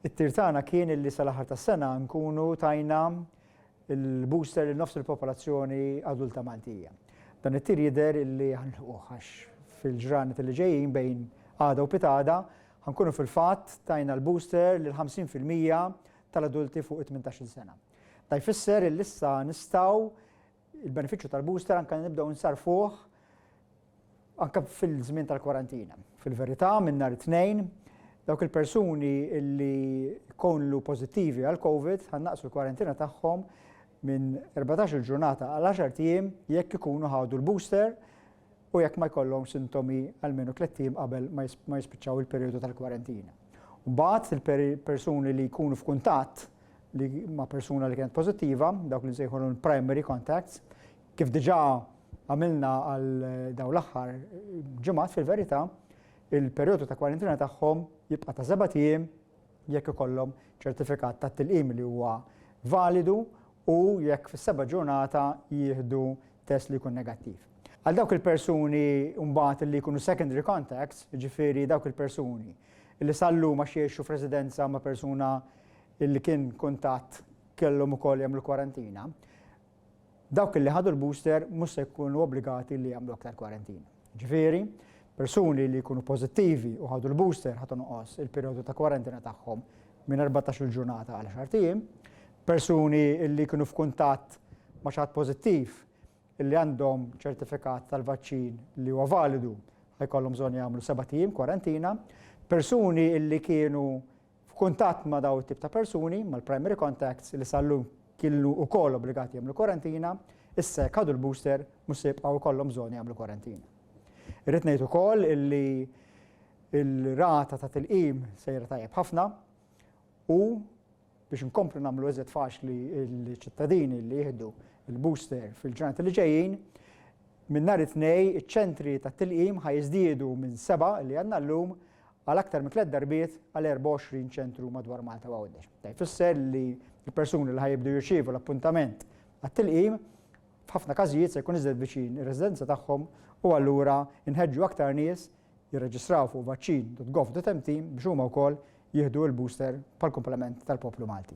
It-tir tagħna kien illi sal-aħħar tas-sena nkunu tajna l-booster lil nofs il-popolazzjoni adulta Maltija. Dan it-tir jidher illi ħanħuh għax fil-ġranet li ġejjin bejn għada u pitada ħankunu fil-fatt tajna l-booster lil 50% tal-adulti fuq 18-il sena. Da jfisser illi issa nistgħu Il-benefiċċju tal-booster anke nibdew insarrfuh anke fil-żmien tal-kwarantina. Fil-verità, minn nhar it-Tnejn, dawk il-persuni li jkunu pożittivi għall-Covid ħa nnaqqsu l-kwarantina tagħhom minn 14-il ġurnata għal 10 ijiem jekk ikunu ħadu l-booster u jekk ma jkollhom sintomi almenu tliet ijiem qabel ma jispiċċaw il-perijodu tal-kwarantina. Mbagħad il-persuni li jkunu f'kuntatt li ma' persuna li kienet pożittiva, dawk li nsejħulhom primary contacts, kif diġà għamilna għal daw l-aħħar ġimgħat fil-verità, il-perjodu ta' kwarantina tagħhom jibqa' ta' seba' tiem jekk ikollhom ċertifikat ta' tilqim li huwa validu u jekk fis-seba' ġurnata jieħdu test li jkun negattiv. Għal dawk il-persuni mbagħad li jkunu secondary contacts, ġifieri dawk il-persuni li sal-lum għax jgħixu f'residenza ma' persuna illi kien kuntatt kellhom ukoll jagħmlu kwarantina, dawk illi ħadu l-booster mhux se jkunu obbligati li jagħmlu aktar kwarantina. Ġifieri, persuni li jkunu pożittivi u ħadu l-booster ħadd inqos il-perjodu ta' kwarantina tagħhom minn 14 ġurnata għal 10 ijiem. Persuni li kienu f'kuntatt ma' xaħat pożittiv li għandhom ċertifikat tal-vaċċin li huwa validu ħajkollhom bżonn jagħmlu 7 ijiem kwarantina. Persuni li kienu f'kuntatt ma' dawn it-tip ta' persuni, mal-primary contacts, li sal-lum kienu wkoll obbligati jagħmlu kwarantina, issa jekk ħadu l-booster mhux se jibqgħu jkollhom bżonn jagħmlu kwarantina. Irrid ngħid ukoll illi l-rata ta' tilqim sejra tajjeb ħafna u biex inkomplu nagħmlu iżjed faċli l-ċittadini li jieħdu l-booster fil-ġranet li ġejjin, minn nhar it-Tnejn iċ-ċentri tat-tilqim ħa jiżdiedu minn seba' li għandna llum għal aktar minn tliet darbiet għal 24 ċentru madwar Malta u Għawdex. Dan jfisser li l-persuni li ħa jibdew jirċievu l-appuntament għat-tilqim f'ħafna każijiet se jkun iżjed viċin ir-residenza tagħhom u allura nħeġġu aktar nies jirreġistraw fuq vaccin.gov.mt biex huma wkoll jieħdu l-booster bħall-kumplament tal-poplu Malti.